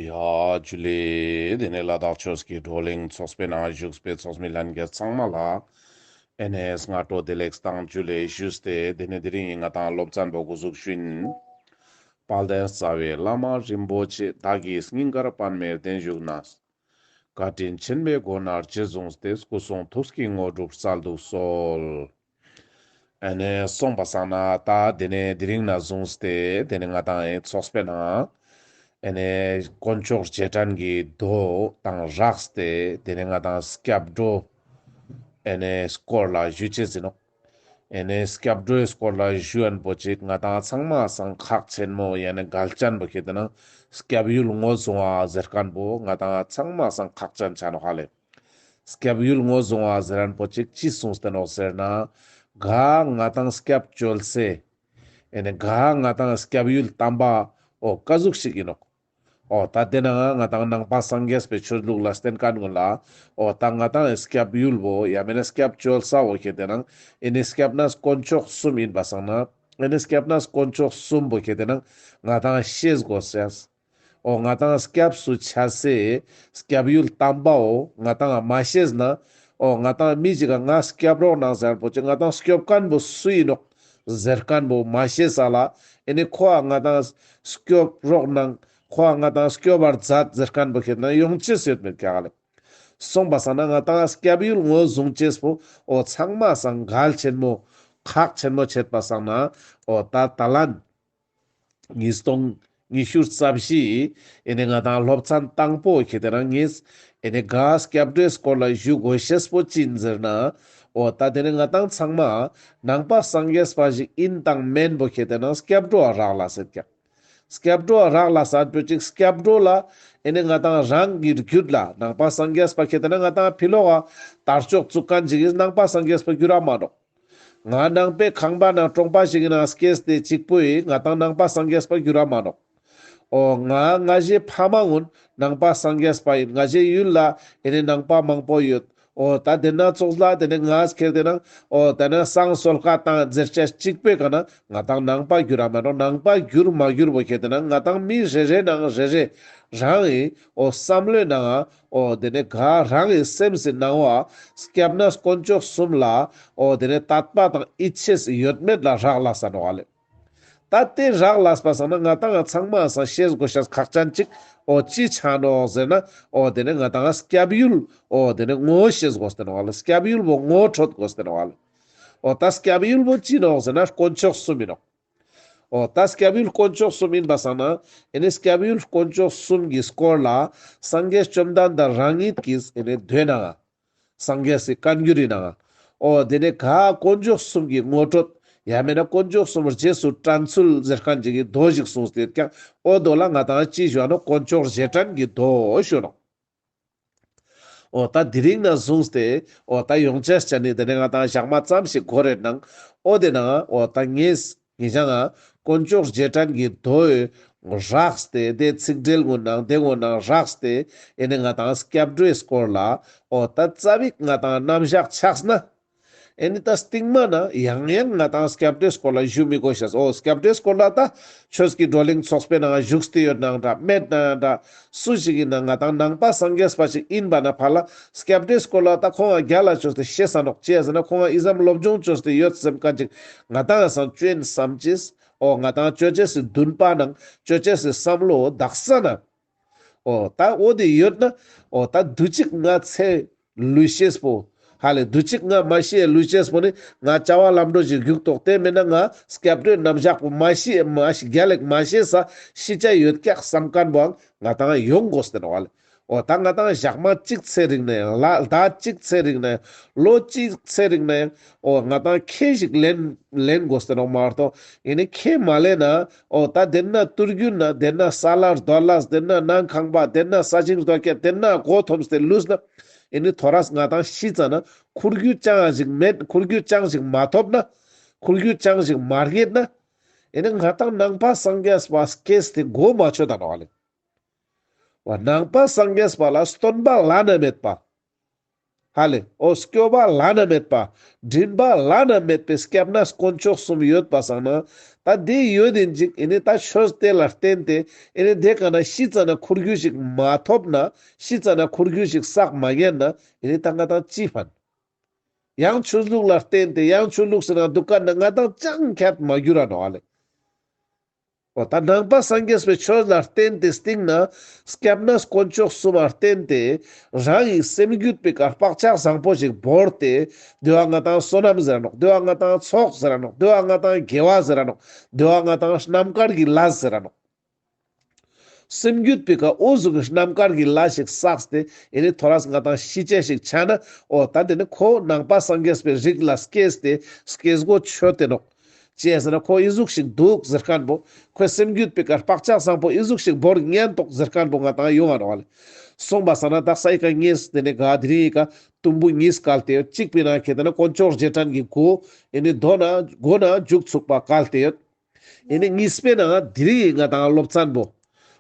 ཡཱ། ལས་དེ་ནས་ལ་དྭགས་ཆོས་ཀྱི་བགྲོ་གླེང་ཚོགས་པའི་ནང་བཞུགས་པའི་ཚོགས་མི་ལྷན་རྒྱས་ཚང་མ་ལ། NS སྔ་དྲོ་བདེ་ལེགས་སྟངས་བཅུ་ལས་བཞུགས་ཏེ་དེ་ནས་དེ་རིང་ཡིན་ང་དང་སློབ་ཚན་པོ་སྐུ་གཟུགས་ཤུན། དཔལ་ལྡན་རྩ་བའི་བླ་མ་རིན་པོ་ཆེ་དག་གི་སྙིང་གར་པདྨའི་བརྟན་བཞུགས་ན། བཀའ་དྲིན་ཆེན་པོའི་སྒོ་ནས་རྗེ་བཟུང་སྟེ་སྐུ་གསུང་ཐུགས་ཀྱི་དངོས་གྲུབ་གསལ་འདུག་གསོལ། ཨ་ནེ་སོང་པ་བསམ་ན་ད་དེ་ནས་དེ་རིང་ན་བཟུང་སྟེ་དེ་ནི་ང་དང་ཨའི་ཚོགས་པའི་ནང། ཨ་ནེ་དཀོན་མཆོག་རྗེས་དྲན་གྱི་རྡོ་དང་རག་སྟེ་དེ་ནི་ང་དང་སྐྱབས་འགྲོ་ཨ་ནེ་སྐོར་ལ་བཞུད་བྱེད་ཟིན་ནོ། ཨ་ནེ་སྐྱབས་འགྲོའི་སྐོར་ལ་བཞུད་ཨན་པོ་ཅིག་ང་དང་ཚང་མ་སང་ཁག་ཆེན་མོ་ཡ་ནི་གལ་ཅན་པོ་ཁེ་དེ་ནང་སྐྱབས་ཡུལ་ངོ་བཟུང་བ་ཟེར་ཀན་པོ་ང་དང་ཚང་མ་སང་ཁག་ཅན་ཆ་ནོ་ཧ་ལེ། སྐྱབས་ཡུལ་ངོ་བཟུང་བ་ཟེར་རན་པོ་ཅིག་ཅི་གསུངས་སྟེ་ནོག་ཟེར་ན། ག་ང་དང་སྐྱབས་བཅོལ་སའི། ཨེ་ནས་ག་ང་དང་སྐྱབས་ཡུལ་གཏམ་པ་འོ་དཀའ་གཟུགས་ཤིག་ཡིན་ནོག་འོ་ད་དེ་ན་ང་དང་ནང་པ་སངས་རྒྱས་པའི་ཆོས་ལུགས་ལ་བསྟན་དཀའ་ནུས་ལ་འོ་ད་ང་དང་ཨེ་སྐྱབས་ཡུལ་བོ་ཡ་མེ་ན་སྐྱབས་བཅོལ་ས་འོ་ཁྱེད་དེ་ན་ཨེ་ནས་སྐྱབས་ན་དཀོན་མཆོག་གསུམ་ཡིན་པ་སང་ན་ཨེ་ནས་སྐྱབས་ན་དཀོན་མཆོག་གསུམ་བོ་ཁྱེད་དེ་ན་ང་དང་ཤེས་དགོས་སེ། ཨོ་ང་དང་སྐྱབས་སུ་འཆའ་སའི་སྐྱབས་ཡུལ་གཏམ་པའོ་ང་དང་མ་ཤེས་ན་ཨོ་ང་དང་མི་གཅིག་ག་ང་སྐྱབས་རོགས་གནང་ཟེར་པོ་ཅི་ང་དང་སྐྱོབས་དཀོན་པོ་སུ་ཡིན་ནོ་ཟེར་དཀོན་པོ་མ་ཤེས་ས་ལ་ཨེ་ནི་ཁོ་ཨ་ང་དང་སྐྱོབས་རོགས་གནང་ཁོ་ཨ་ང་དང་སྐྱོབས་བར་མཛད་ཟེར་དཀོན་པོ་ཁྱེད་ནང་ཡོང་ཅི་སོད་མི་ག་ལེ་སོང་པ་ས་ན་ང་དང་སྐྱབས་ཡུལ་ངོས་བཟུང་ཅེས་པོ་ཨོ་ཚང་མ་ས་འགལ་ཆེན་མོ་ཁག་ཆེན་མོ་བྱེད་པ་ས་ན་ཨོ་ད་ད་ལན། ཉིས་སྟོང་ཉི་ཤུ་རྩ་བཞི། ཨེ་ནས་ང་དང་སློབ་ཚན་དང་པོ་ཁྱེད་དེ་རང་ངེས། ཨེ་ནས་དགའ་སྐྱབས་འགྲོའི་སྐོར་ལ་བཞུགས་དགོས་ཞེས་པོ་ཅི་འཛེར་ན། ཨོ་ད་དེ་ནས་ང་དང་ཚང་མ། ནང་པ་སངས་རྒྱས་པ་ཞིག་ཨིན་དང་མེན་པོ་ཁྱེད་དེ་རང་སྐྱབས་འགྲོ་བ་རག་ལ་ཟེར་ཀྱང། སྐྱབས་འགྲོ་བ་རག་ལ་ཟ་འགྲོ་ཅིག་སྐྱབས་འགྲོ་ལ། ཨེ་ནས་ང་དང་རང་གིས་རྒྱུད་ལ་ནང་པ་སངས་རྒྱས་པ་ཁྱེད་དེ་རང་ང་དང་ཕི་ལོ་བ། དར་ལྕོག་བཙུགས་གང་ཅིག་གིས་ནང་པ་སངས་རྒྱས་པ་རྒྱུད་རག་མ་རོགས། ང་ནང་པའི་ཁང་པ་ནང་ཀྲོང་པ་ཞིག་ཡིན་ནའང་སྐྱེས་དེ་གཅིག་པོ་ཡིས་ང་དང་ནང་པ་སངས་རྒྱས་པར་འགྱུར་བ་མ་གནོངས། ཨོ། ང་སྔ་གཞས་ཕ་མ་སྔོན་ནང་པ་སངས་རྒྱས་པ་ཡིན་སྔ་གཞས་ཡུལ་ལ་ཡེ་ནས་ནང་པ་མང་པོ་ཡོད། ཨོ། ད་དེ་སྣ་ཚོགས་ལ་དེ་ནས་ང་ཁེར་དེ་སྣང། ཨོ། ད་ནང་སང་གསོལ་བཀའ་དང་མཛེར་སྤྱད་གཅིག་པོས་གང་ན་ང་དང་ནང་པ་འགྱུར་བ་མ་གནོངས་ནང་པ་འགྱུར་མ་འགྱུར་བོ་ཁེར་དེ་སྣང་ང་དང་མི་རེ་རེ་ནང་རེ་རེ་རང་ཡིན། ཨོ། བསམ་བློའི་ནའང། ཨོ་དེ་ནས་གང་རང་གི་སེམས་སུ་སྣང་བ་སྐྱབས་ན་དཀོན་མཆོག་གསུམ་ལ་ཨོ་དེ་ནས་དག་པ་དང་ཨི་ཆེས་ཡོད་མེད་ལ་རག་ལ་སར་བ་ལས། ད་དེ་རག་ལ་སར་བ་སང་ན་ང་དང་ང་ཚང་མ་སང་ཤེས་དགོས་ཤ་ཁག་ཅན་ཅིག་ཨོ་ཅི་ཆ་ནོ་ཟེར་ན་ཨོ་དེ་ནས་ང་དང་ང་སྐྱབས་ཡུལ་ཨོ་དེ་ནས་ངོ་ཤེས་དགོས་སྟེར་བ་ལ་སྐྱབས་ཡུལ་བོ་ངོ་འཕྲོད་དགོས་སྟེར་བ་ལས། ཨོ་ད་སྐྱབས་ཡུལ་བོ་ཅི་ནོ་ཟེར་ན་དཀོན་མཆོག་གསུམ་ཡིན་ནོ། ཨོ། ད་སྐྱབས་ཡུལ་དཀོན་མཆོག་གསུམ་ཡིན་པ་བསམ་ན། ཨེ་ནས་སྐྱབས་ཡུལ་དཀོན་མཆོག་གསུམ་གྱི་སྐོར་ལ། སངས་རྒྱས་བཅོམ་ལྡན་འདས་རང་ཉིད་ཀྱིས་ཨེ་ནས་འདོད་ནའང། སངས་རྒྱས་སུ་བཀའ་འགྱུར་ཡིན་ནའང། ཨོ། དེ་ནས་ག་དཀོན་མཆོག་གསུམ་གྱི་ངོ་སྤྲོད། ཡང་མེད་ན་དཀོན་མཆོག་གསུམ་རྗེས་སུ་དྲན་ཚུལ་གཟེར་ཁང་གཅིག་གི་རྡོ་ཞིག་གསུངས་དེར་ཀྱང་ཨོ། རྡོ་ལ་ང་དང་ཅི་བྱུང་ཡང་ནོ་དཀོན་མཆོག་རྗེས་དྲན་གྱི་རྡོ་ཞུ་གནང། ཨོ་ད་དེ་རིང་ན་བཟུང་སྟེ། ཨོ་ད་ཡོང་བྱས་སྤྱད་ནི་དེ་ནས་ང་དང་ཞག་མ་ཙམ་ཞིག་འགོར་རེ་གནང། ཨོ་དེ་ན་ཨོ་ད་ངེས། ངེད་ཅག་ང། དཀོན་ཅོག་རྗེས་དྲན་གྱི་རྡོའི། ངོ་རགས་སྟེ་དེ་ཚིག་འགྲེལ་ངོ་གནང་དེ་ངོ་གནང་རགས་སྟེ། ཨེ་ནས་ང་དང་སྐྱབས་འགྲོའི་སྐོར་ལ། ཨོ་ད་རྩ་བིག་ང་དང་རྣམ་བཞག་ཆགས་ན། ཨེ་ནི་ད་སྟིང་མ་ན་ཡང་ཡང་ང་དང Skeptics སྐོར་ལ་བཞུགས་མི་དགོས་ཤེས་སོ Skeptics སྐོར་ལ་ད་ཁྱོད་ཀྱི་བགྲོ་གླེང་ཚོགས་པའི་ནང་བཞུགས་ཏེ་ཡོད་ནའང་འདྲ་མེད་ན་ཡང་འདྲ་སུ་ཞིག་ཡིན་ན་ང་དང་ནང་པ་སངས་རྒྱས་པ་ཞིག་ཡིན་པ་ན་བར་ལ Skeptics སྐོར་ལ་ད་ཁོང་ང་རྒྱ་ལ་བཅོས་ཏེ་ཤེས་ས་འདོག་བྱས་ཟིན་ན་ཁོང་ང Islam སློབ་སྦྱོང་བཅོས་ཏེ་ཡོད་སེམས་དཀའ་ཅིག་ང་དང་ཡང་སང་བཅོས་ཡིན་བསམ་ཅིས་ཨོ་ང་དང་བཅོས་བྱས་སི་འདུན་པ་ནང་བཅོས་བྱས་སི་བསམ་བློའོ་བདག་ས་ན་ཨོ་ད་འོ་དེ་ཡོད་ན་ཨོ་ད་དུས་གཅིག་ང་ཚའི་ལུས་ཤེས་པོ་ཧ་ལས་དུས་གཅིག་ང་མ་ཤེས་ལུས་ཤེས་པོ་ནི་ང་བྱ་བ་ལམ་འགྲོ་བཞིན་བཞུགས་དོགས་དེ་མིན་ན་ང་སྐྱབས་འགྲོའི་རྣམ་བཞག་པོ་མ་ཤེས་མ་ཤེས་དགེ་ལེགས་མ་ཤེས་ས་ཤེས་བྱ་ཡོད་སྐྱག་བསམ་དཀར་པོའང་ང་དང་ཡོད་མགོ་ཟེར་བ་ལས་ཨོ་ད་ང་དང་ཞག་མ་གཅིག་ཚེ་རིང་ན་ཡང་ལ་ཟླ་གཅིག་ཚེ་རིང་ན་ཡང་ལོ་གཅིག་ཚེ་རིང་ན་ཡང་ཨོ་ང་དང་ཁྱེད་ཞིག་ལེན་ལེན་དགོ་ཟེར་བ་མ་གཏོགས་ཡིན་ནས་ཁྱེད་མ་ལེན་ན་ཨོ་ད་དེ་ན་ཏུར་རྒྱུད་ན་དེ་ན་ས་ལར་རྡོ་ལཱས་དེ་ན་ནང་ཁང་པ་དེ་ན་ས་ཆིངས་རྡོ་སྐྱེ་དེ་ན་གོ་ཐོམས་དེ་ལུས་ན་ཨེ་ནི་ཐོ་རཱས་ང་དང་བཤིས་རྩ་ན་ཁུར་རྒྱུད་ཅང་ཞིག་མེད་ཁུར་རྒྱུད་ཅང་ཞིག་མ་ཐོབ་ན་ཁུར་རྒྱུད་ཅང་ཞིག་མ་རྒྱས་ན་ཨེ་ནི་ང་དང་ནང་པ་སངས་རྒྱས་པ་སྐྱེས་དེ་གོ་མ་ཆོད་ད་ནོ་ཨ་ལས་བ་ནང་པ་སངས་རྒྱས་པ་ལ་སྟོན་པ་བླ་ན་མེད་པ། ཧ་ལས་ཨོ་སྐྱོ་བ་བླ་ན་མེད་པ། འདྲིན་པ་བླ་ན་མེད་པའི་སྐྱབས་ན་དཀོན་མཆོག་གསུམ་ཡོད་པ་བསགས་ན། ད་དེ་ཡོད་དེ་འཇིག་ཨེ་ནས་ད་ཆོས་དེ་ལ་བརྟེན་ཏེ་ཨེ་ནས་དེ་ག་ན་ཤི་ཙ་ན་ཁུར་རྒྱུ་ཞིག་མ་ཐོབ་ན་ཤི་ཙ་ན་ཁུར་རྒྱུ་ཞིག་བསགས་མ་ཉན་ན་ཨེ་ནས་ད་ང་དང་ཅི་ཕན། ཡང་ཆོས་ལུགས་ལ་བརྟེན་ཏེ་ཡང་ཆོས་ལུགས་སུ་ན་འདུག་ག་ན་ང་དང་ཅང་ཁྱད་མ་གྱུར་ར་ནོ་ཨ་ལས། པོ་དང་ནང་པ་སངས་རྒྱས་པའི་ཆོས་ལ་བརྟེན་ཏེ་སྟེང་ན་སྐྱབས་ན་དཀོན་མཆོག་གསུམ་ལ་བརྟེན་ཏེ་རང་ཡིན་སེམས་བརྒྱུད་པའི་གར་བག་ཆགས་བཟང་པོ་ཞིག་བོར་ཏེ་འདུལ་བ་ལྔ་དང་བསོད་ནམས་ཟེར་ར་ནོག་འདུལ་བ་ལྔ་དང་ཚོགས་ཟེར་ར་ནོག་འདུལ་བ་ལྔ་དང་དགེ་བ་ཟེར་ར་ནོག་འདུལ་བ་ལྔ་དང་རྣམ་དཀར་གྱི་ལྷ་ཟེར་ར་ནོག། སེམས་བརྒྱུད་པའི་གར་དབུ་གཟུགས་ཀྱི་རྣམ་དཀར་གྱི་ལྷ་ཞིག་བསགས་ཏེ་ཡེ་ནས་ཐོ་རངས་ལྔ་དང་བཞི་ཅན་ཞིག་བྱ་ན་འོ་ད་འདི་ནི་ཁོ་བོ་ནང་པ་སངས་རྒྱས་པའི་རིགས་ལ་སྐྱེས་ཏེ་སྐྱེས་སྒོ་ཆོད་དེ་ནོག། ཅེས་ཟེར་ན་ཁོ་ཨི་གཟུགས་ཤིག་འདུག་ཟེར་དཀར་པོ། ཁོའི་སེམས་རྒྱུད་དཔེ་དཀར་པགས་ལྕགས་བཟང་པོ་ཨི་གཟུགས་ཤིག་བོར་ཉན་འདུག་ཟེར་དཀར་པོ་ང་དང་ཡོང་བར་བ་ལས། སོང་བ་ཟ་ན་དག་ས་ཡི་ག་གཉིས་དེ་ནས་དགའ་དེ་རིང་ཡི་ག་དུམ་བུ་གཉིས་བཀལ་ཏེ་ཡོད་གཅིག་པའི་ནང་གི་དེ་ན་དཀོན་མཆོག་རྗེས་དྲན་གྱི་སྒོ་ཨེ་ནི་རྡོ་ན་སྒོ་ན་འཇུག་ཚུགས་པ་བཀལ་ཏེ་ཡོད། ཨེ་ནི་གཉིས་པའི་ནང་དེ་རིང་ཡི་ང་དང་སློབ་ཚན་པོ།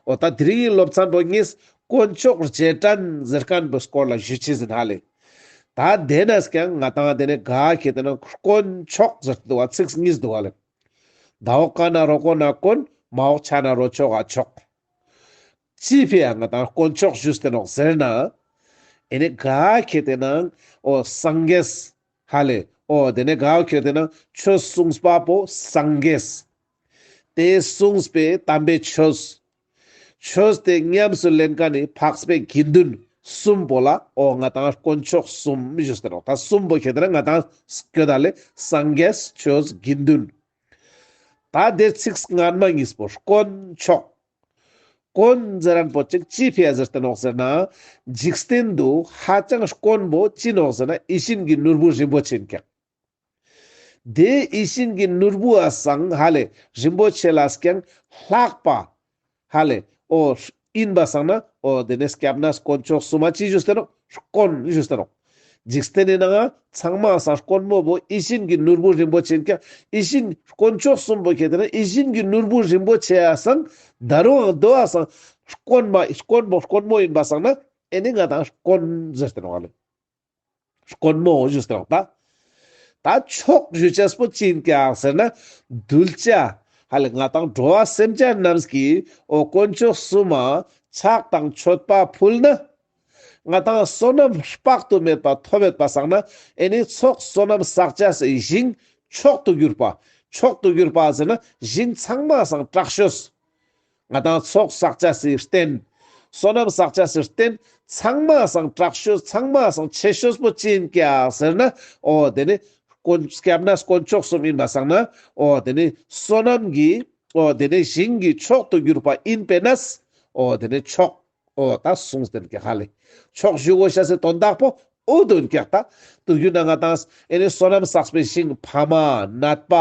འོ་ད་དེ་རིང་ཡི་སློབ་ཚན་པོ་གཉིས་དཀོན་མཆོག་རྗེས་དྲན་ཟེར་དཀར་པོས་སྐོར་ལ་བཞུད་ཕྱི་ཟིན་ཧ་ལས། ད་དེ་ནས་ཀྱང་ང་དང་དེ་ནས་དགའ་ཁྱེད་དེ་ན་དཀོན་མཆོག་ཟེར་དུ་བ་ཚིགས་གཉིས་སྡུ་བ་ལེབ། ད་འོག་ཀ་ན་རོ་དཀོན་ན་དཀོན་མ་འོག་ཆ་ན་རོ་ཆོག་ཨ་ཆོག། ཅི་ཕེ་ཡ་ང་དང་དཀོན་མཆོག་ཞུས་དེ་ནོག་ཟེར་ན། ཨེ་ནས་དགའ་ཁྱེད་དེ་ན་ཨོ་སང་གེས་ཧ་ལེ་ཨོ་དེ་ནས་དགའ་ཨོ་ཁྱེད་དེ་ན་ཆོས་གསུངས་པ་པོ་སང་གེས། དེ་གསུངས་པའི་དམ་པའི་ཆོས་ཆོས་དེ་ཉམས་སུ་ལེན་ག་ནི་འཕགས་པའི་དགེ་འདུན་གསུམ་པོ་ལ་འོ་ང་དང་དཀོན་མཆོག་གསུམ་བཞི་ཟེར་རོ་ད་གསུམ་པོ་ཞེས་ཟེར་ན་ང་དང་ཁྱོད་དང་ལས་སངས་རྒྱས་ཆོས་དགེ་འདུན། ད་དེ་ཚིགས་སྔ་མ་གཉིས་པོར་དཀོན་མཆོག། དཀོན་ཟེར་རན་པོ་ཅིག་ཅི་ཕས་ཟེར་ཏེ་ནོག་ཟེར་ན། འཇིག་རྟེན་དུ་ཧ་ཅང་དཀོན་པོ་ཅི་ནོག་ཟེར་ན་ཡིད་བཞིན་གྱི་ནོར་བུ་རིན་པོ་ཆེ་འཁྱགས། དེའི་ཡིད་བཞིན་གྱི་ནོར་བུ་ཨ་སངས་ཧ་ལས་རིན་པོ་ཆེ་ལ་ཀྱང་ལྷག་པ། ཧ་ལས་ཨོ། ཨིན་པ་སངས་ན་ཨོ། དེ་ནས་སྐྱབས་ན་དཀོན་མཆོག་གསུམ་མ་ཅི་བཞུགས་ཟེར་རོ། དཀོན་བཞུགས་ཟེར་རོ། འཇིགས་སྟེ་ནས་ན་ང་ཚང་མ་ཨ་སངས་དཀོན་མོ་བོ་ཡིད་བཞིན་གྱི་ནོར་བུ་རིན་པོ་ཆེ་ཀྱང་ཡིད་བཞིན་དཀོན་མཆོག་གསུམ་བོ་ཁྱེད་དེ་ན་ཡིད་བཞིན་གྱི་ནོར་བུ་རིན་པོ་ཆེ་ཨ་སངས་ད་རུང་ཨང་དོ་ཨ་སངས་དཀོན་མ་དཀོན་བོ་དཀོན་མོ་ཡིན་པ་སངས་ན་ཨེ་ནས་ང་དང་དཀོན་ཟེར་ཏེ་ན་ཨོ་ལེ། དཀོན་མོ་ཞེས་གྲགས་པ། ད་ཕྱོགས་བཞུད་ཆས་སྤོ་བྱིན་ཀྱང་ཟེར་ན་གདུལ་བྱ། ཧ་ལས་ང་དང་འགྲོ་བ་སེམས་ཅན་རྣམས་ཀྱི་འོ་དཀོན་མཆོག་གསུམ་མ། ཆགས་དང་མཆོད་པ་ཕུལ་ན། ང་དང་བསོད་ནམས་དཔག་ཏུ་མེད་པ་ཐོབ་མེད་པ་བསགས་ན་ཨེ་ནི་ཚོགས་བསོད་ནམས་བསགས་བྱ་སའི་ཞིང་མཆོག་ཏུ་གྱུར་པ། མཆོག་ཏུ་གྱུར་པ་ཟེར་ན་ཞིང་ཚང་མ་སངས་དྲག་ཤོས། ང་དང་ཚོགས་བསགས་བྱ་སེའི་རྟེན། བསོད་ནམས་བསགས་བྱ་སེའི་རྟེན། ཚང་མ་བསང་དྲག་བཤོས་ཚང་མ་བསང་ཆེ་བཤོས་པོ་ཅི་ཡིན་ཀྱེ་ཟེར་ན། ཨོ་དེ་ནི། དཀོན་སྐྱབས་ན་དཀོན་མཆོག་གསུམ་ཡིན་པ་བསང་ན། ཨོ་དེ་ནི། བསོད་ནམས་ཀྱི། ཨོ་དེ་ནི་ཞིང་གི་མཆོག་ཏུ་གྱུར་པ་ཡིན་པས་ན། ཨོ་དེ་ནི་མཆོག། ཨོ་ད་སོང་ཟེར་བསྐྱལ་ཧ་ལས། ཆོག་བཞུགས་འོ་ཤ་ཟེར་དོ་བདག་པོ། ཨོ་དོན་བསྐྱལ་ད། དུ་རྒྱུ་ན་ང་དང། ཨེ་ནི་བསོད་ནམས་བསགས་པའི་ཞིང། ཕ་མ། ནད་པ།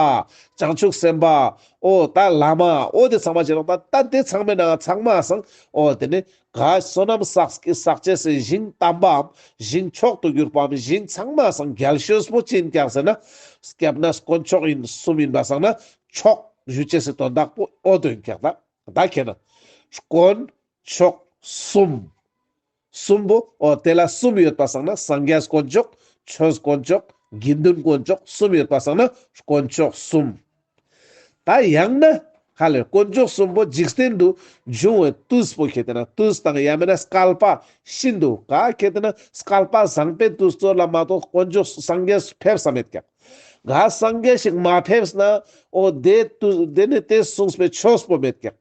བྱང་ཆུབ་སེམས་དཔའ། ཨོ་ད་བླ་མ། ཨོ་དེ་ཚང་མ་བྱེད་རོགས་ད། ད་དེ་ཚང་མའི་ནང་ང་ཚང་མ་སང། ཨོ་དེ་ནི། ག་བསོད་ནམས་བསགས་ཀྱི་བསགས་བྱས་སའི་ཞིང་དམ་པའམ། ཞིང་མཆོག་ཏུ་གྱུར་པའམ་ཞིང་ཚང་མ་སང་རྒྱལ་ཤོས་པོ་ཅི་ཡིན་བསྐྱལ་ཟེར་ན། བསྐལ་པ་ན་དཀོན་མཆོག་ཡིན་གསུམ་ཡིན་པ་སང་ན། ཆོག་བཞུགས་བསྐྱལ་ཟེར་དོ་བདག་པོ། ཨོ་དོན་བསྐྱལ་ད། བདག་གིས་ནི། དཀོན་མཆོག་གསུམ། གསུམ་པོ། འོ་དེ་ལ་གསུམ་ཡོད་པར་བསམས་ན་སངས་རྒྱས་དཀོན་མཆོག། ཆོས་དཀོན་མཆོག། དགེ་འདུན་དཀོན་མཆོག་གསུམ་ཡོད་པར་བསམས་ན་དཀོན་མཆོག་གསུམ། ད་ཡང་ན། ཧ་ལས་དཀོན་མཆོག་གསུམ་པོ་འཇིག་རྟེན་དུ་འབྱུང་བའི་ཏུས་པོ་གལ་ཏེ་ན་ཏུས་དང་ཡང་མིན་ན་སྐལ་པ་ཤིན་ཏུ་དཀའ་གལ་ཏེ་ན་སྐལ་པ་བཟང་པས་ཏུས་གཙོར་ལ་མ་གཏོགས་དཀོན་མཆོག་སངས་རྒྱས་སུ་ཕེབས་ས་མེད་ཀྱང། ག་སངས་རྒྱས་ཤིག་མ་ཕེབས་ན་ཨོ་དེ་དུ་དེ་ནི་དེ་གསུངས་པའི་ཆོས་པོ་མེད་ཀྱང།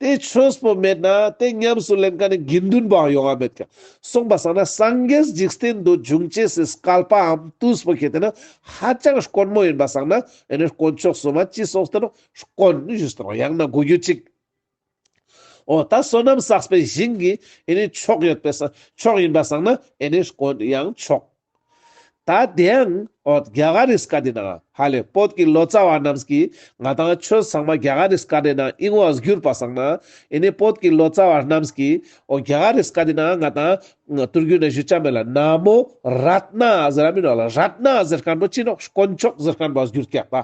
དེ་ཆོས་པོ་མེད་ན་དེ་ཉམས་སུ་ལེན་ག་ནི་དགེ་འདུན་པའང་ཡོང་བ་མེད་ཀྱང་གསུངས་པ་སངས་ན་སངས་རྒྱས་འཇིག་རྟེན་དུ་འབྱུང་བཅས་སུ་བསྐལ་པའམ་དུས་པོ་ཁྱེད་དེ་ནི་ཧ་ཅང་དཀོན་མོ་ཡིན་པ་སངས་ན་དེ་ནི་དཀོན་མཆོག་སྲུང་མ་ཅི་སོགས་ལྟར་དཀོན། ཡང་ན་གོ་རྒྱུ་གཅིག། འོ་ད་བསོད་ནམས་བསགས་པའི་བཞིན་གྱི་ཨེ་ནི་མཆོག་ཡོད་པས་མཆོག་ཡིན་པར་བསམ་ན་ཨེ་ནི་དཀོན་ཡང་མཆོག། ད་དེའང་འོ་རྒྱ་གར་རིས་ཀ་འདི་ན་ཧ་ལས་བོད་ཀྱི་ལོ་ཙཱ་བ་རྣམས་ཀྱིས་ང་དང་ཁྱོད་ཚང་མ་རྒྱ་གར་རིས་ཀ་འདི་ན་ཨིན་བ་གྱུར་པར་བསམ་ན་ཨེ་ནི་བོད་ཀྱི་ལོ་ཙཱ་བ་རྣམས་ཀྱིས་འོ་རྒྱ་གར་རིས་ཀ་འདི་ན་ང་དང་ཏུར་རྒྱུད་ན་གཞུ་ཆ་མེད་ལ་ན་མོ་རཏྣ་ཟེར་ར་མིན་རོགས་ལ་རཏྣ་ཟེར་མཁན་པོ་ཅི་ནོག་དཀོན་མཆོག་ཟེར་མཁན་པོ་གྱུར་ཀྱག་པ།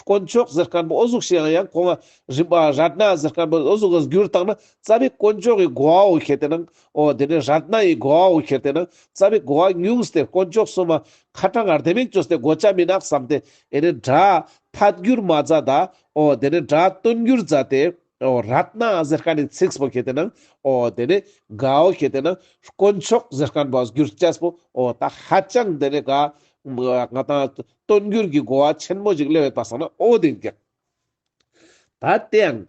དཀོན་མཆོག་གཟི་དཀར་པོ་ཨོ་གཟུགས་ཞེས་ཡང་ཡང་གོང་རིམ་པ་རཏྣ་གཟི་དཀར་པོ་ཨོ་གཟུགས་ལ་བསྒྱུར་བཏང་ན་རྩ་བའི་དཀོན་མཆོག་གི་གོ་བའོ་ཞེས་དེ་ནའོ། དེ་ནས་རཏྣ་ཡི་གོ་བའོ་ཞེས་དེ་ན་རྩ་བའི་གོ་བ་ཉུང་སྟེ་དཀོན་མཆོག་གསུམ་མ། ཁ་དྲང་ངར་ལྡན་མིག་བཅོས་ཏེ་གོ་ཆ་མི་ནག་བསམ་སྟེ། དེ་ནས་སྒྲ། ཐ་བསྒྱུར་མ་རྫ་དའོ། དེ་ནས་སྒྲ་སྟོན་བསྒྱུར་རྫ་སྟེའོ། རཏྣ་གཟི་དཀར་ནི་ཚིགས་པོ་ཞེས་དེ་ནའོ། དེ་ནས་གའོ་ཞེས་དེ་ན་དཀོན་མཆོག་གཟི་དཀར་པོ་ཨོ་བསྒྱུར་སྐྱ་སྤོའོ། ད་ཧ་ཅང་དེ་ནས་ག། ང་དང། སྟོན་འགྱུར་གྱི་གོ་བ་ཆེན་མོ་ཞིག་གླེང་ཡོད་པ་བསམ་ན་ཨོ་བདེ་སྐྱེ། ད་ལྟའི་ཡང་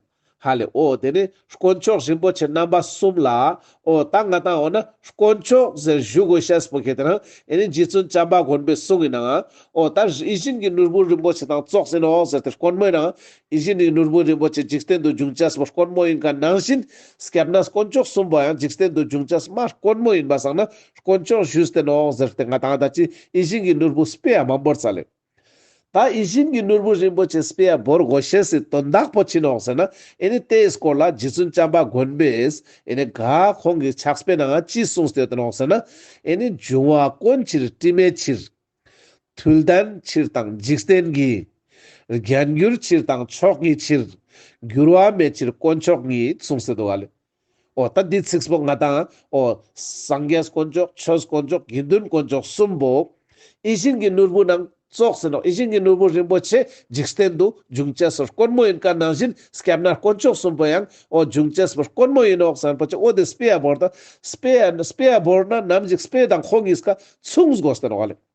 ཧ་ལས་ཨོ་བདེ་ནི་དཀོན་མཆོག་རིན་པོ་ཆེ་རྣམ་པ་གསུམ་ལ་ཨོ་ད་ང་དང་ཨོ་ན་དཀོན་མཆོག་ཟེར་བཞུགས་དགོས་ཤེས་པོ་ཁྱེད་དེ་རང་ཨེ་ནི་རྗེ་བཙུན་བྱམས་པ་མགོན་པོའི་གསུང་ཡིན་ནའང་ཨོ་ད་རི་བཞིན་གྱི་ནོར་བུ་རིན་པོ་ཆེ་དང་ཙོག་ཟིན་ཨོ་ཟེར་དེ་དཀོན་མོ་ཡིན་ནའང་ཨི་བཞིན་ནི་ནོར་བུ་རིན་པོ་ཆེ་འཇིག་རྟེན་དུ་འབྱུང་བྱ་སྤོ་དཀོན་མོ་ཡིན་ག་ནང་བཞིན་སྐྱབས་ན་དཀོན་མཆོག་གསུམ་པོ་ཡང་འཇིག་རྟེན་དུ་འབྱུང་བྱ་སྨྲ་དཀོན་མོ་ཡིན་པ་བསམ་ན་དཀོན་མཆོག་བཞུད་དེ་ནོའོ་ཟེར་ཏེ་ང་དང་ད་ཅི་ཨི་ཞིན་གྱི་ནོར་བུ་སྤེ་ཡ་མ་འབོར་ཙ་ལེ། ད་ཨི་ཞིན་གྱི་ནོར་བུ་རིན་པོ་ཆེ་སྤེ་ཡ་འབོར་དགོས་ཤེས་སྲིད་དོན་དག་པོ་ཅི་ནོག་ཟེར་ན་ཨི་ནི་དེའི་སྐོར་ལ་རྗེ་བཙུན་བྱམས་པ་མགོན་པོས་ཨི་ནི་ག་ཁོང་གི་ཕྱག་སྤེ་ནང་ཅི་གསུངས་ཟེར་དེ་ནོག་ཟེར་ན་ཨི་ནི་འབྱུང་བ་དཀོན་ཕྱིར་སྤྲིན་མེད་ཕྱིར། དུལ་ལྡན་ཕྱིར་དང་འཇིག་རྟེན་གྱི། རྒྱན་གྱུར་ཕྱིར་དང་མཆོག་གི་ཕྱིར། འགྱུར་བ་མེད་ཕྱིར་དཀོན་མཆོག་ཉིད་གསུངས་ཟེར་དུ་བ་ལེ། ཨོ་ད་འདི་ཚིགས་བཟློག་ང་དང། ཨོ། སངས་རྒྱས་དཀོན་མཆོག་ཆོས་དཀོན་མཆོག་དགེ་འདུན་དཀོན་མཆོག་གསུམ་པོ། ཨི་ཤིང་གི་ནོར་བུ་ནང་རྩོག་ཟིན་ནོ་ཨི་ཤིང་གི་ནོར་བུ་རིན་པོ་ཆེ་འཇིག་རྟེན་དུ་འབྱུང་བྱེད་ཟོར་དཀོན་མོ་ཡིན་ག་ནང་བཞིན་སྐྱབས་ན་དཀོན་མཆོག་གསུམ་པོ་ཡང་ཨོ་འབྱུང་བྱེད་ཟོར་དཀོན་མོ་ཡིན་ཨོ་གསང་པོ་ཆེ་ཨོ་དེ་སྤེ་ཡ་བོར་དང། སྤེ་ཡ་སྤེ་ཡ་བོར་ན་ནམ་ཞིག་སྤེ་དང་ཁོ་གཉིས་ཀ་མཚུངས་དགོས་ཟེར་བ་ལས།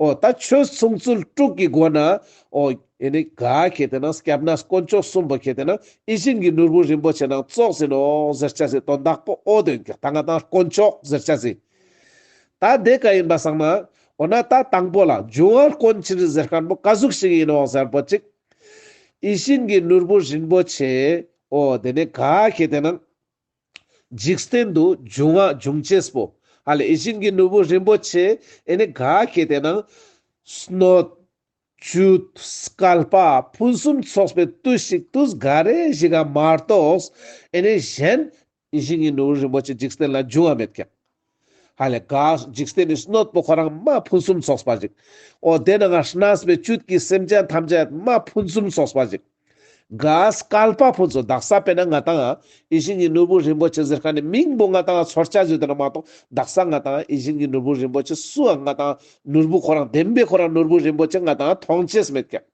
ཨོ། ད་ཆོས་མཚུངས་ཚུལ་དྲུག་གི་སྒོ་ན། ཨོ། ཡེ་ནས་ག་གལ་ཏེ་ན་སྐྱབས་ན་དཀོན་མཆོག་གསུམ་པོ་གལ་ཏེ་ན་ཨི་བཞིན་གྱི་ནོར་བུ་རིན་པོ་ཆེ་ནང་བཙོག་ཟིན་ནོ་ཟེར་བྱ་ཟིན་དོན་དག་པོ་ཨོ་དོན་གྱི་ད་ང་དང་དཀོན་མཆོག་ཟེར་བྱ་ཟིན། ད་དེ་ག་ཡིན་པ་བསམ་ན། འོ་ན་ད་དང་པོ་ལ་འབྱུང་བ་དཀོན་ཕྱིར་ཟེར་ཁར་མོ་ག་གཟུགས་ཤིག་ཡིན་ནོ་ཟེར་པོ་ཅིག། ཨི་བཞིན་གྱི་ནོར་བུ་རིན་པོ་ཆེ། ཨོ། དེ་ནས་ག་གལ་ཏེ་ན། འཇིག་རྟེན་དུ་འབྱུང་བ་འབྱུང་བྱེད་པོ། ཧ་ལས་བྱིན་གྱིས་ནོར་བུ་རིན་པོ་ཆེ་ཨེ་ནི་ག་གེ་དེ་ན། སྣོད། བཅུད། སྐལ་པ་ཕུན་སུམ་ཚོགས་པའི་བརྟུལ་ཞུགས་བརྟུལ་ག་རེ་བཞི་ག་མ་གཏོགས་ཨེ་ནི་གཞན། བྱིན་གྱིས་ནོར་བུ་རིན་པོ་ཆེ་འཇིག་རྟེན་ལ་འབྱུང་བ་མེད་ཀྱང། ཧ་ལས་དགའ། འཇིག་རྟེན་ནི་སྣོད་པོ་ཁོ་རང་རྨ་ཕུན་སུམ་ཚོགས་པ་ཅིག། འོ་དེ་ན་ང་ཤནཱས་པའི་བཅུད་ཀྱིས་སེམས་ཅན་ཐམས་ཅད་རྨ་ཕུན་སུམ་ཚོགས་པ་ཅིག། དགའ། སྐལ་པ་ཕུན་ཚོགས་བདག་ས་པས་ན་ང་དང། ཨི་ཤིང་གི་ནོར་བུ་རིན་པོ་ཆེ་གཟེར་ཁ་ནས་མིང་པོ་ང་དང་ཚོར་བཅའ་བརྗོད་དེ་ན་མ་གཏོགས་བདག་ས་ང་དང་ཨི་ཤིང་གི་ནོར་བུ་རིན་པོ་ཆེ་སུའང་ང་དང་ནོར་བུ་ཁོ་རང་བདེན་པས་ཁོ་རང་ནོར་བུ་རིན་པོ་ཆེ་ང་དང་མཐོང་བྱེད་མེད་ཀྱང།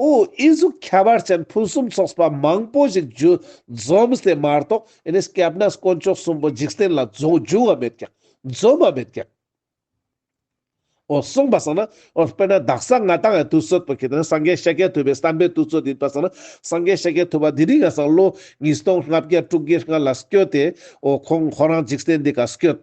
ཨོ་ཨི་གཟུགས་ཁྱད་པར་ཅན་ཕུན་སུམ་ཚོགས་པ་མང་པོ་ཞིག་རྒྱུ་འཛོམས་ཏེ་མ་རྟོགས་ཨེ་ནས་སྐྱབས་ན་དཀོན་མཆོག་གསུམ་པོ་འཇིག་རྟེན་ལ་རྫོགས་འབྱུང་བ་མེད་ཀྱང་འཛོམས་པ་མེད་ཀྱང། ཨོ་གསུངས་པ་སང་ན་ཨོ་དཔེར་ན་བདག་གསང་སྔགས་དང་ཡང་དུ་སོད་པོ་ཁྱེད་ནི་སངས་རྒྱས་ཤཱཀྱ་ཐུབ་པའི་བསམ་པས་དུ་སྩོལ་དུ་ཡིན་པ་སང་ན་སངས་རྒྱས་ཤཱཀྱ་ཐུབ་པ་འདི་ནི་ང་སང་ལོ་ཉིས་སྟོང་ལྔ་བརྒྱ་དྲུག་བརྒྱའི་སྔ་ལ་སྐྱོལ་ཏེ་ཨོ་ཁོང་ཁོ་རང་འཇིག་རྟེན་འདི་ག་སྐྱོལ།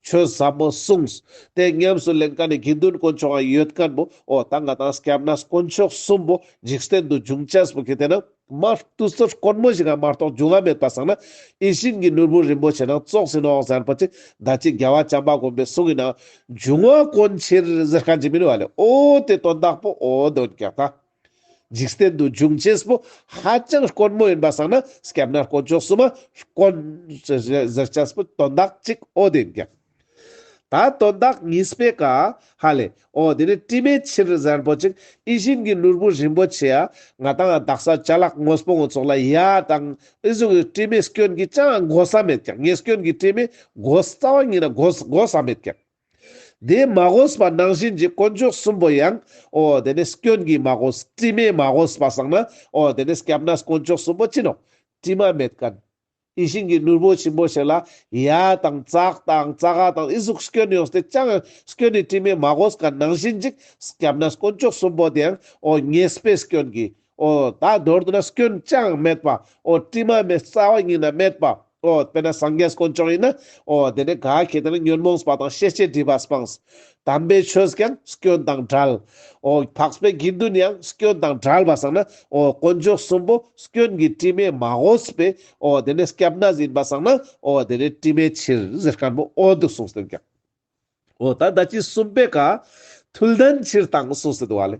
ཆོས་ཟབ་མོ་གསུངས། དེ་ཉམས་སུ་ལེན་ཀ་ནས་དགེ་འདུན་དཀོན་མཆོག་ཡང་ཡོད་ཀན་མོ། འོ་ད་ང་དང་སྐྱབས་ན་དཀོན་མཆོག་གསུམ་པོ་འཇིག་རྟེན་དུ་འབྱུང་བྱེད་པོ་གི་དེ་ན་མ་ཏུ་སོར་དཀོན་མོ་ཞིག་ག་མ་གཏོགས་འབྱུང་བ་མེད་པར་སངས་ན་ཨི་ཤིང་གི་ནོར་བུ་རིན་པོ་ཆེ་ན་བཙོག་ཟིན་ནོ་ཟེར་པ་ཅི་ད་ཅི་རྒྱལ་བ་བྱམས་པ་དགོན་པའི་གསུང་གི་ནང་འབྱུང་བ་དཀོན་ཕྱིར་ཟེར་ག་འཇིག་མིན་བ་ལས་ཨོ་དེ་དོན་དག་པོ་ཨོ་དོན་གྱི་ད་འཇིག་རྟེན་དུ་འབྱུང་བྱེད་པོ་ཧ་ཅང་དཀོན་མོ་ཡིན་པར་སངས་ན་སྐྱབས་ན་དཀོན་མཆོག་གསུམ་མ་དཀོན་ཟེར་བྱས་པོ་དོན་དག་ཅིག་ཨོ་དེ་འགྱངས། ད་དོན་དག་ངེས་པའི་ཀ། ཧ་ལས། ཨོ་དེ་ནི་དྲི་མེད་ཕྱིར་གཟར་པོ་ཅིག་ཨི་བཞིན་གྱི་ནོར་བུ་རིན་པོ་ཆེ་ཨ། ང་དང་བདག་ས་བྱ་གླག་དངོས་པོ་ངོ་ཚོགས་ལ་ཡ་དང་ཨི་གཟུགས་ཀྱི་དྲི་མེད་སྐྱོན་གྱིས་ཅང་གོ་ས་མེད་ཀྱང་ངེས་སྐྱོན་གྱི་དྲི་མེད་གོ་ས་རྩ་བ་ཉིད་ན་གོ་ས་གོ་ས་མེད་ཀྱང། དེ་མ་གོ་ས་པ་ནང་བཞིན་གྱི་དཀོན་མཆོག་གསུམ་པོ་ཡང། ཨོ་དེ་ནི་སྐྱོན་གྱིས་མ་གོ་ས་དྲི་མས་མ་གོ་ས་པ་བསགས་ན། ཨོ་དེ་ནི་སྐྱབས་ན་ས་དཀོན་མཆོག་གསུམ་པོ་སྤྱིན་ནོ། དྲི་མ་མེད་ཀ། ཡིད་བཞིན་གྱི་ནོར་བུ་ཆེན་པོ་ཞིག་ལ་གཡའ་དང་ཙག་དང་རྩ་ཧ་དང་ཨི་གཟུགས་སྐྱོན་ཡོད་སྟེ་ཅང་ཡང་སྐྱོན་ནི་སྤྲིན་མེད་མ་གོ་ས་ག་ནང་བཞིན་ཅིག་སྐྱབས་ན་དཀོན་མཆོག་གསུམ་པོ་དེ་ཡང་ཨོ་ངེས་པའི་སྐྱོན་གྱིས་ཨོ། ད་མདོར་དུ་ན་སྐྱོན་ཅང་ཡང་མེད་པ་ཨོ་སྤྲིན་མ་མེད་རྩ་བ་ཉིད་ན་མེད་པ་ཨོ་དཔེར་ན་སངས་རྒྱས་དཀོན་མཆོག་ཡིན་ན་ཨོ་དེ་ནས་ག་གེ་དེ་ན་ཉོན་མོངས་པ་དང་ཤེས་བྱའི་སྒྲིབ་པ་སྤངས་དམ་པའི་ཆོས་ཀྱང་སྐྱོན་དང་བྲལ། འོ། འཕགས་པའི་དགེ་འདུན་ཡང་སྐྱོན་དང་བྲལ་བར་བསམས་ན། འོ། དཀོན་མཆོག་གསུམ་པོ་སྐྱོན་གྱི་དྲི་མས་མ་གོས་པས། འོ། དེ་ནས་སྐྱབས་ན་ཟིན་པར་བསམས་ན། འོ། དེ་ནས་དྲི་མའི་ཕྱིར་གཟེར་དཀར་པོ་ཨོ་འདུག་གསུངས་ཟིན་ཀྱང། འོ། ད་ལྟ་ཅི་གསུངས་པའི་བཀའ། ཐུལ་ལྡན་ཕྱིར་དང་གསུངས་ཟིན་བ་ལས།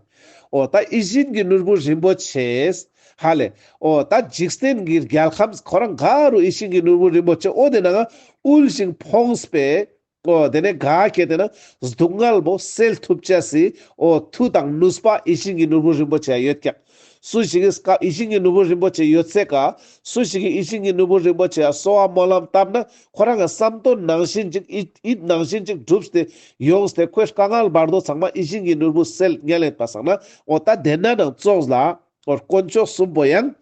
འོ། ད་ཨི་བཞིན་གྱི་ནོར་བུ་རིན་པོ་ཆེས། ཧ་ལས། འོ། ད་འཇིག་རྟེན་གྱི་རྒྱལ་ཁམས་ཁོ་རང་ག་རུ་ཨི་བཞིན་གྱི་ནོར་བུ་རིན་པོ་ཆེ་ཨོ་དེ་ནའང་དབུལ་ཞིང་ཕོངས་པས། ཨོ་དེ་ནས་ག་སྐྱེས་དེ་ན་གཟུགས་མངལ་མོ་སེལ་ཐུབ་བྱས་སི་ཨོ་མཐུ་དང་ཀླུ་སྤ་ཨི་ཤིང་གི་ནོར་བུ་རིན་པོ་ཆེ་ཡོད་ཀྱང་སུ་ཞིག་གིས་སྐབས་ཨི་ཤིང་གི་ནོར་བུ་རིན་པོ་ཆེ་ཡོད་ཚད་ག་སུ་ཞིག་གིས་ཨི་ཤིང་གི་ནོར་བུ་རིན་པོ་ཆེ་གསོ་བ་སྨོན་ལམ་བཏབ་ན་ཁོ་རང་གི་བསམ་དོན་ནང་བཞིན་ཅིག་ཨི་ཨི་ནང་བཞིན་ཅིག་འགྲུབ་སྟེ་ཡོང་སྟེ་ཁོའི་དཀའ་ངལ་བར་དོ་ཚང་མ་ཨི་ཤིང་གི་ནོར་བུ་སེལ་ངལ་ལས་པ་བསགས་ན་ཨོ་ད་དེ་ན་ནང་བཙོགས་ལ། ཐོ་དཀོན་མཆོག་གསུམ་པོ་ཡང།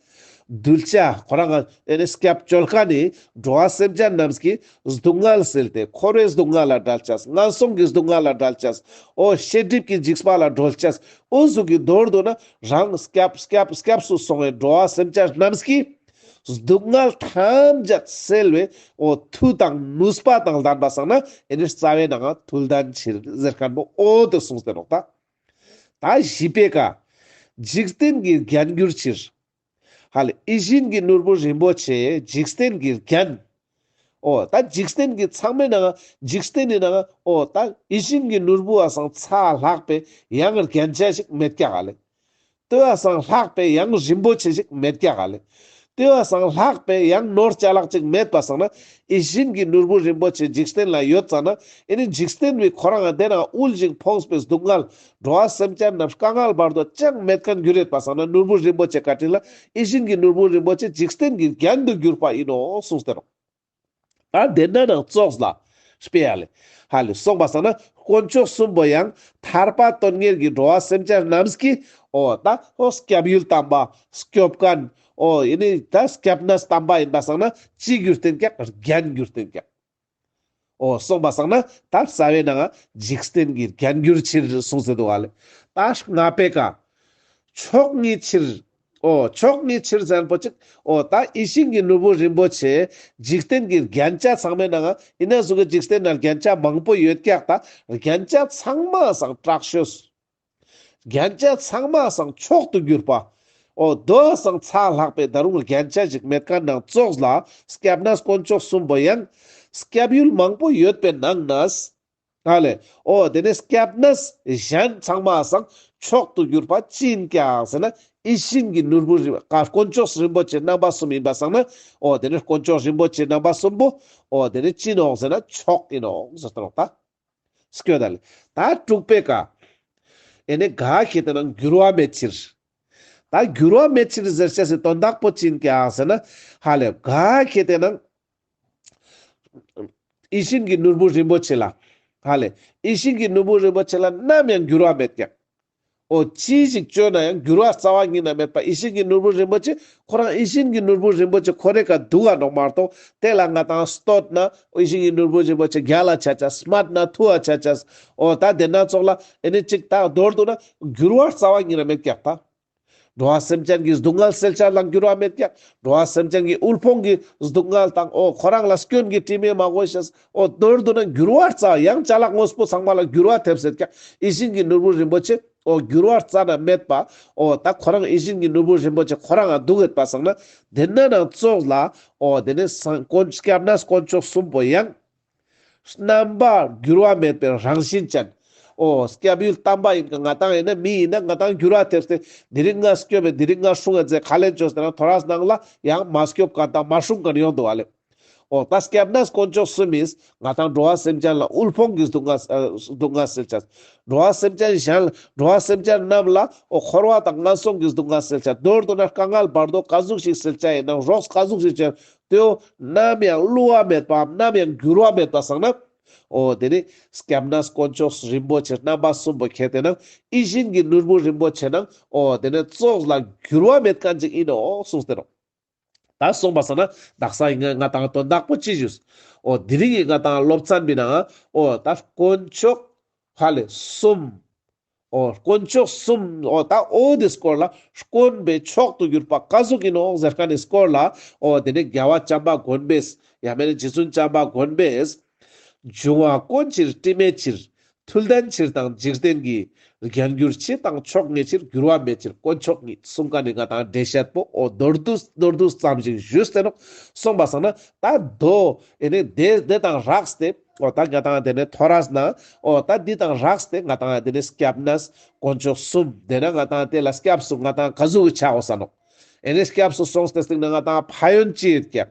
གདུལ་བྱ་ཁོ་རང་གི་ཨེ་ནས་སྐྱབས་བཅོལ་ཁ་ནས་འགྲོ་བ་སེམས་ཅན་རྣམས་ཀྱི་སྡུག་བསྔལ་སེལ་ཏེ་འཁོར་བའི་སྡུག་བསྔལ་ལ་བསྒྲལ་བྱ། ངན་སོང་གི་སྡུག་བསྔལ་ལ་བསྒྲལ་བྱ། འོ་ཤེས་སྒྲིབ་ཀྱི་འཇིགས་པ་ལ་སྒྲོལ་བྱ། དབུ་གཟུགས་ཀྱི་མདོར་དུ་ནི་རང་སྐྱབས་སྐྱབས་སྐྱབས་སུ་སོང་བའི་འགྲོ་བ་སེམས་ཅན་རྣམས་ཀྱི་སྡུག་བསྔལ་ཐམས་ཅད་སེལ་བའི་འོ་མཐུ་དང་ནུས་པ་དང་ལྡན་པ་བསགས་ན་ཨེ་ནས་རྩ་བའི་ནང་ཐུགས་ལྡན་ཕྱིར་གཟེར་སྐམ་པོ་འོད་དུ་སོང་ཟེར་རོ། ད། ད་བཞི་པའི་ཀ། འཇིག་རྟེན་གྱི་རྒྱན་གྱུར་ཕྱིར། ཧ་ལས་ཨི་བཞིན་གྱི་ནོར་བུ་རིན་པོ་ཆེ་འཇིག་རྟེན་གྱི་རྒྱན། ཨོ་ད་འཇིག་རྟེན་གྱི་ཚངས་མེད་ནའང་འཇིག་རྟེན་ནི་ནའང་ཨོ་ད་ཨི་བཞིན་གྱི་ནོར་བུ་བ་སང་ཚ་ལྷག་པའི་ཡང་རྒྱན་ཅན་ཞིག་མེད་ཀྱ་ཧ་ལས། ལྟེ་བ་སངས་ལྷག་པའི་ཡང་རིན་པོ་ཆེ་ཞིག་མེད་ཀྱ་ག་ལེ། ལྟེ་བ་སངས་ལྷག་པའི་ཡང་ནོར་བཅའ་ལག་ཅིག་མེད་པ་བསགས་ན་ཨི་བཞིན་གྱི་ནོར་བུ་རིན་པོ་ཆེ་འཇིག་རྟེན་ལ་ཡོད་ཙང་ན་ཨི་ནི་འཇིག་རྟེན་པའི་ཁོ་རང་བདེ་ན་དབུལ་ཞིང་ཕོངས་པའི་སྡུག་བསྔལ། འགྲོ་བ་སེམས་ཅན་རྣམས་དཀའ་བསྔལ་བར་དོ་ཅང་མེད་ཀྱང་རྒྱུ་རེད་པ་བསགས་ན་ནོར་བུ་རིན་པོ་ཆེ་བཀའ་དྲིན་ལ་ཨི་བཞིན་གྱི་ནོར་བུ་རིན་པོ་ཆེ་འཇིག་རྟེན་གྱི་རྒྱན་དུ་གྱུར་པ་ཡིན་ནོ་གསུངས་ཏེ་རོ། ཨ་དེ་ན་ནང་བཙོགས་ལ། སྤེལ། ཧ་ལས་སོགས་པ་ཟ་ན་དཀོན་མཆོག་གསུམ་པོ་ཡང་ཐར་པ་དོན་གཉེར་གྱི་འགྲོ་བ་སེམས་ཅན་རྣམས་ཀྱི། ཨོ་ད་ཨོ་སྐྱབས་ཡུལ་དམ་པ་སྐྱོབ་ཀ། ཨོ་ཡེ་ནི་ད་སྐྱབས་ན་སི་དམ་པ་ཡིན་པ་བསགས་ན་ཅི་གྱུར་བསྟན་ཀྱང་རྒྱན་གྱུར་བསྟན་ཀྱང། ཨོ་སོགས་པ་བསགས་ན་ད་ས་བའི་ནང་འཇིག་རྟེན་གྱི་རྒྱན་གྱུར་ཕྱིར་གསུངས་ཟེར་དུ་ཨ་ལས་ད་ང་པའི་ཀ། ཕྱོགས་གཉིས་ཕྱིར་ཨོ་ཕྱོགས་ལྔའི་ཕྱིར་བཟང་པོ་གཅིག། ཨོ་ད་ཨི་ཤིང་གི་ནོར་བུ་རིན་པོ་ཆེ། འཇིག་རྟེན་གྱི་རྒྱན་ཆ་ཚང་མའི་ནང། ཡིན་ནའང་གཟུགས་ཀྱི་འཇིག་རྟེན་ན་རྒྱན་ཆ་མང་པོ་ཡོད་ཀྱག་ད། རྒྱན་ཆ་ཚང་མ་སང་སྐྲག་ཤོས་སུ། རྒྱན་ཆ་ཚང་མ་སང་མཆོག་ཏུ་གྱུར་པ། ཨོ་དོ་སང་ཚགས་ལྷག་པའི་ད་རུང་རྒྱན་ཆ་ཞིག་མེད་ཀ་ནང་བཙོགས་ལ་སྐྱབས་ན་དཀོན་མཆོག་གསུམ་པོ་ཡང། སྐྱབས་ཡུལ་མང་པོ་ཡོད་པའི་ནང་ན། ཨ་ལས། ཨོ་དེ་ནས་སྐྱབས་ན་གཞན་ཚང་མ་བཟང་མཆོག་ཏུ་གྱུར་པ་ཅིན་ཀྱང་ཟེར་ན་ཨི་ཤིན་གྱི་ནོར་བུ་རིག་པ་ཀ་དཀོན་མཆོག་རིན་པོ་ཆེ་རྣམ་པ་གསུམ་ཡིན་པ་བཟང་ན་ཨོ་དེ་ནས་དཀོན་མཆོག་རིན་པོ་ཆེ་རྣམ་པ་གསུམ་པོ་ཨོ་དེ་ནས་ཅིན་འོག་ཟེར་ན་མཆོག་ཡིན་འོག་ཟེར་ཏོ་ལགས་ད། སྐྱོ་ད་ལས། ད་དྲུག་པའི་ཀ། ཨེ་ནས་དགག་བྱེད་དེ་རྣམས་འགྱུར་བ་མེད་ཕྱིར། ད་འགྱུར་བ་མེད་ཕྱིར་ཟེར་བྱས་སུ་དོན་དག་པོ་ཅིན་ཀྱང་ཟེར་ན་ཧ་ལས་དགག་བྱེད་དེ་རྣམས། ཡིད་བཞིན་གྱི་ནོར་བུ་རིན་པོ་ཆེ་ལ། ཧ་ལས། ཡིད་བཞིན་གྱི་ནོར་བུ་རིན་པོ་ཆེ་ལ་ནམ་ཡང་འགྱུར་བ་མེད་ཀྱང། ཨོ། ཅི་ཞིག་སྤྱོད་ན་ཡང་འགྱུར་བ་རྩ་བ་ཉིད་ན་མེད་པ་ཡིད་བཞིན་གྱི་ནོར་བུ་རིན་པོ་ཆེ་ཁོ་རང་ཡིད་བཞིན་གྱི་ནོར་བུ་རིན་པོ་ཆེ་ཁོ་རེ་ག་སྡུག་ག་འགྲོགས་མ་གཏོགས་དེ་ལ་ང་དང་སྟོད་ན་ཡིད་བཞིན་གྱི་ནོར་བུ་རིན་པོ་ཆེ་རྒྱ་ལ་ཆ་ཆ་སྨད་ན་ཐུ་བ་ཆ་ཆ། ཨོ། ད་དེ་སྣ་ཚོགས་ལ་ཨེ་ནི་ཅིག་དག་མདོར་བསྡུ་ན་འགྱུར་བ་རྩ་བ་ཉིད་ན་མེད་ཀྱང་ཐ་འགྲོ་བ་སེམས་ཅན་གྱི་སྡུག་བསྔལ་སེལ་བྱ་ལ་འགྱུར་བ་མེད་ཀྱང་འགྲོ་བ་སེམས་ཅན་གྱི་དབུལ་ཕོངས་ཀྱི་སྡུག་བསྔལ་དང་འོ་ཁོ་རང་ལ་སྐྱོན་གྱི་དྲི་མས་མ་གོས་ཞེས་འོ་དོད་དུ་ནི་འགྱུར་བར་རྩ་ཡང་བྱ་ལ་དངོས་པོ་ཚང་མ་ལ་འགྱུར་བ་ཐེབས་ཟེར་ཀྱང་ཡིད་བཞིན་གྱི་ནོར་བུ་རིན་པོ་ཆེ་འོ་འགྱུར་བར་རྩ་ན་མེད་པ་འོ་ད་ཁོ་རང་ཡིད་བཞིན་གྱི་ནོར་བུ་རིན་པོ་ཆེ་ཁོ་རང་ང་སྡུག་ཡོད་པ་བསམ་ན་དེ་ན་ནང་རྩོད་ལ་འོ་དེ་ནས་སངས་དཀོན་སྐྱབས་ན་དཀོན་མཆོག་གསུམ་པོ་ཡང། རྣམ་པར་འགྱུར་བ་མེད་པའི་རང་བཞིན་ཅན། ཨོ། སྐྱབས་ཡུལ་དམ་པ་ཡིན་གྱི་ང་དང་ཡིན་ན་མི་ཡིན་ན་ང་དང་འགྱུར་བ་ཐེབས་ཏེ། འདི་རིགས་ལྔས་སྐྱོབ་པའི་འདི་རིགས་ལྔ་སྲུང་བའི་རྫས་ག་ལས་འབྱོར་ཟེར་ན་དོ་ར་སྣང་ལ་ཡང་མ་སྐྱོབ་གང་དང་མ་སྲུང་གང་ཡོང་དུ་བ་ལེ། ཨོ། ད་སྐྱབས་ན་དཀོན་མཆོག་སུ་མིན། ང་དང་འགྲོ་བ་སེམས་ཅན་ལ་དབུལ་ཕོངས་ཀྱི་སྡུག་བསྔལ་སེལ་བྱ། འགྲོ་བ་སེམས་ཅན་གཞན་ལ་འགྲོ་བ་སེམས་ཅན་རྣམས་ལ་ཨོ། འཁོར་བ་དང་ངན་སོང་གི་སྡུག་བསྔལ་སེལ་བྱ། མདོར་བསྡུ་ན་དཀའ་ངལ་བར་དོ་ག་གཟུགས་ཤིག་སེལ་བྱ་ཡིན་ན་རོགས་ག་གཟུགས་ཤིག་བྱེད་ཏེའོ། ནམ་ཡང་བསླུ་བ་མེད་པའམ་ནམ་ཡང་འགྱུར་བ་མེད་པ་བསགས་ན། ཨོ། དེ་ནི Skepnas དཀོན་མཆོག་རིན་པོ་ཆེ་རྣམ་པ་གསུམ་པོ་ཁྱེད་དེ་ན་ཨི་བཞིན་གྱི་ནོར་བུ་རིན་པོ་ཆེ་ན་ཨོ། དེ་ནི་ཙོག་ལ་འགྱུར་བ་མེད་གང་ཅིག་ཡིན་ནོ་གསུངས་ཟེར་རོ། ད་གསུངས་པ་ས་ན་བདག་ས་ཡིན་ངེས་ང་དང་དོན་དག་པོ་ཅི་བཞུགས། ཨོ། དེ་རིང་ངས་ང་དང་སློབ་ཚན་མི་སྣང་ཨོ། ད་དཀོན་མཆོག་ཧ་ལས་གསུམ། ཨོ། དཀོན་མཆོག་གསུམ། ཨོ། ད་ཨོ་འདི་སྐོར་ལ། དཀོན་པའི་མཆོག་ཏུ་གྱུར་པ་བཀའ་ཟུར་གྱི་ནོངས་ཟེར་ཁ་ནི་སྐོར་ལ། ཨོ། དེ་ནས་རྒྱལ་བ་བྱམས་པ་དགོན་པས། ཡང་མེད་ན་རྗེ་བཙུན་བྱམས་པ་དགོན་པས། འབྱུང་བ་དཀོན་ཕྱིར་སྤྲིན་མེད་ཕྱིར། ཐུལ་ལྡན་ཕྱིར་དང་འཇིག་རྟེན་གྱི། རྒྱན་བསྒྱུར་ཕྱི་དང་ཕྱོགས་ངེས་ཕྱིར་འགྱུར་བ་མེད་ཕྱིར་དཀོན་མཆོག་ཉིད་གསུང་བཀའ་ནི་ང་དང་འབྲེལ་བཤད་པོ་ཨོ། མདོར་བསྡུ། མདོར་བསྡུ་ཙམ་ཞིག་ཞུས་བསྟན་ནོ། གསུངས་པ་བཟང་ན། ད་ཟློ། ཨེ་ནས། དེ་དང་རགས་སྟེ། ཨོ་ད་ང་དང་དེ་ནས་ཐོ་ར་ཟ་ན་ཨོ་ད་འདི་དང་རག་ཟ་དེ་ང་དང་དེ་ནས་སྐྱ་བ་ན་ཟ་དཀོན་མཆོག་གསུམ་དེ་ན་ང་དང་དེ་ལ་སྐྱ་བ་སུ་ང་དང་ག་ཟུག་གི་ཆ་འོ་ཟ་ནོ་ཨེ་ནས་སྐྱ་བ་སུ་སོང་ཟ་དེ་སྟེང་ན་ང་དང་ཕ་ཡོན་ཅི་ཡི་སྐྱ་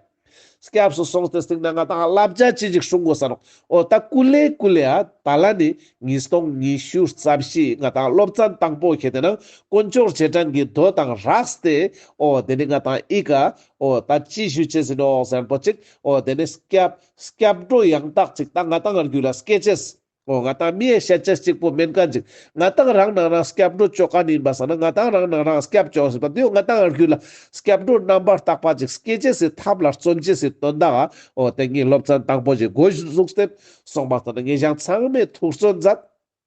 སྐྱ་བ་སུ་སོང་ཟ་དེ་སྟེང་ན་ང་དང་ལ་བྱ་ཅི་ཅིག་ཧྲུང་གོ་ཟ་ནོ་ཨོ་ད་ཀུ་ལེ་ཀུ་ལེ་ཨ་ད་ལ་ནི་ཉིས་སྟོང་ཉི་ཤུ་རྩ་བཞི་ང་དང་སློབ་ཙ་དང་པོ་ཁྱེད་དེ་ན་དཀོན་མཆོག་རྗེས་འབྲང་གི་རྡོ་དང་རག་ཟ་དེ་ཨོ་དེ་ནས་ང་དང་ཨི་ཀ་ཨོ་ད་ཅི་ཞུ་བྱེད་ཟིན་ཨོ་ཟེར་པོ་ཅིག་ཨོ་དེ་ནས་སྐྱ་བ་སྐྱབས་འགྲོ་ཡང་དག་ཅིག་ད་ང་དང་ང་རྒྱུད་ལ་སྐྱེ་ཆེས། ཨོ་ང་དང་མིའི་ཤེས་བྱེད་གཅིག་པོ་མིན་ག་འཇིག། ང་དང་རང་སྣང་རང་སྐྱབས་འགྲོ་ཅོ་ག་ནས་ཡིན་པ་བསམ་ན་ང་དང་རང་སྣང་རང་སྐྱབས་ཅོ་ཟེར་བ་དེའོ་ང་དང་ང་རྒྱུད་ལ་སྐྱབས་འགྲོ་རྣམ་པར་དག་པ་ཅིག་སྐྱེ་ཆེས་སའི་ཐབས་ལ་བརྩོན་ཆེས་སའི་དོན་དག་ཨོ་དེ་ངའི་སློབ་ཚན་དང་པོ་བཞི་སྒོ་བཞིར་གཟུགས་བསྟན། གསུངས་པ་ལྟར་ན་ངས་བཞག་མཚངས་མེད་ཐུགས་བརྩོན་མཛད།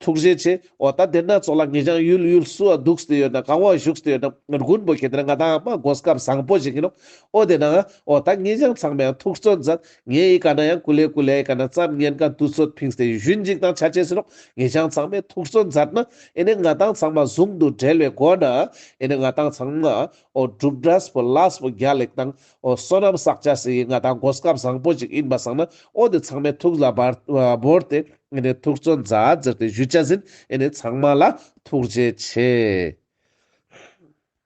ཐུགས་རྗེ་ཆེ། འོ་ད་དེ་སྣ་ཚོགས་ལ་ངེད་ཅང་ཡུལ་ཡུལ་སུ་འདུག་སྟེ་ཡོད་ན་གང་བ་བཞུགས་སྟེ་ཡོད་ན་མགོན་པོ་གལ་ཏེ་ན་ང་དང་མ་འགོས་སྐབས་བཟང་པོ་བྱེད་ཀྱིན་ནོ། འོ་དེ་ན་འོ་ད་ངེད་ཅང་ཚང་མས་ཡང་ཐུགས་བརྩོན་མཛད། ངེད་ཡི་ག་ན་ཡང་ཀུ་ལེ་ཀུ་ལེ་ཡི་ག་ན་བརྩམས་ཉན་ག་འདུ་ཚོད་ཕིགས་སྟེ་བཞུད་འཇིགས་དང་བྱ་བྱེད་ཟིན་ནོ། ངེད་ཅང་ཚང་མས་ཐུགས་བརྩོན་མཛད་ན་ཨེ་ནས་ང་དང་ཚང་མ་ཟུང་དུ་འབྲེལ་བའི་སྒོ་ནས་ཨེ་ནས་ང་དང་ཚང་མ་འོ་སྒྲུབ་དྲྭས་པོ་བླྭས་པོ་རྒྱ་ལེགས་དང་ཨོ་གསོན་རབ་བསགས་བྱ་ཟེར་ཡི་ང་དང་མགོ་སྐབས་བཟང་པོ་ཅིག་ཡིན་པ་བསགས་ན་ཨོ་དེ་ཚང་མའི་ཐུགས་ལ་བོར་ཏེ་ཐུགས་བརྩོན་མཛའ་བརྩེར་ཏེ་གཞུ་བཅའ་ཟིན་ཨེ་ནས་ཚང་མ་ལ་ཐུགས་རྗེ་ཆེ།